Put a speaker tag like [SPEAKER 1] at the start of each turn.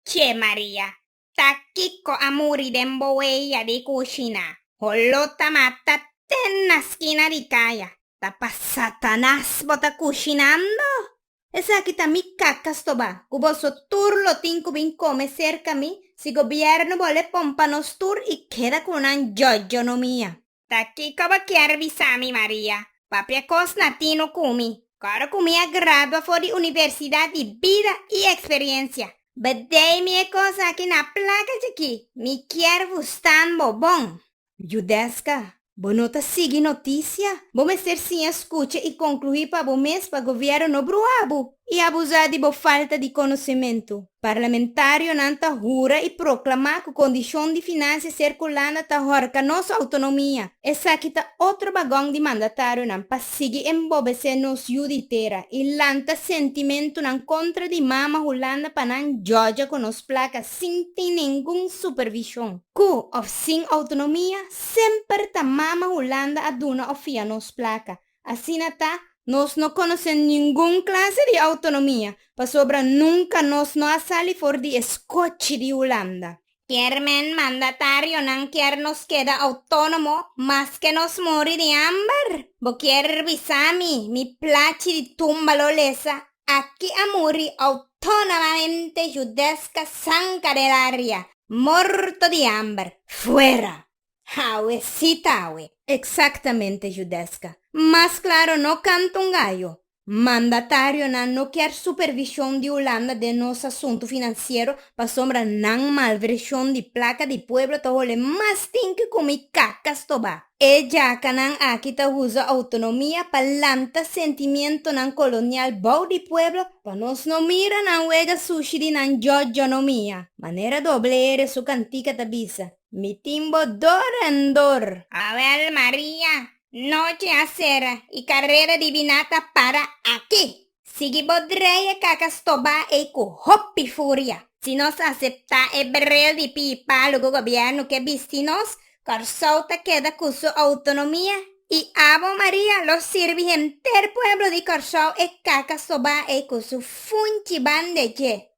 [SPEAKER 1] Che Maria, ta kiko a muri den bo weya di kushina? Holo ta mata ten na skina di kaya. Ta pa Satanas bo ta kushinando? Esaki ta mi kakas toba, ku boso tur lo tin ku bin kome serka mi, si gobièrnu bo le pon pa nos tur i keda ku nan jojo no mia. Ta kico bo kier bisa mi, Maria? Papia cos na tin no cumi. Coro cu mi a gradua for di universidad di bida y experiencia. Bdey mi e cos aki na placa djaki. Mi kier vustan bo bon. Judesca, Bo no ta sigui noticia? Bo mester siña scucha y concluhi pa bo mes pa gobierno no brua bo y abusa di bo falta di conocimento. Parlamentarionan ta hura i proklamá ku kondishon di finansia ser Hulanda ta hòrka nos outonomia. Esaki ta otro bagòng di mandatarionan pa sigui embobesé nos yu di tera i lanta sentimentunan kontra di mama Hulanda pa nan jòja ku nos plaka sin tin ningun supervishon. Ku òf sin outonomia, semper ta mama Hulanda a duna òf fia nos plaka. Asina ta, nos no conoce ningun clase di autonomia, pasobra nunca nos no a sali for di e scochi di Hulanda. Kiermen mandatarionan kier nos keda autonomo maske nos muri di amber? Bo kier bisa mi, mi plachi di tumba lo lesa, aki a muri autonomamente Judeska Sanka del Aria, morto di amber, fuera! Hawe si ta awe. Exactamente Judesca. Mas claro no canta un gallo. Mandatarionan no kier supervision di Hulanda den nos asuntu financiero pasobra nan malversion di placa di pueblo ta hole mas tin cu comi caca stoba. E jacanan aki ta uza autonomia pa lanta sentimientonan colonial bou di pueblo pa nos no mira nan wega sushi di nan jojonomia. Manera doble ere su cantica ta bisa. Mi tin bo dor en dor. Awel Maria, nochi a sera y carrera di biná ta para aki. Sigui bo drei e caca stobá ey cu hopi furia. Si nos aceptá e bril di pipa lugo gobierno ke bisti nos, Corsou ta keda cu su autonomia y abo Maria lo sirbi henter pueblo di Corsou e caca stobá ey cu su funchi bande dje.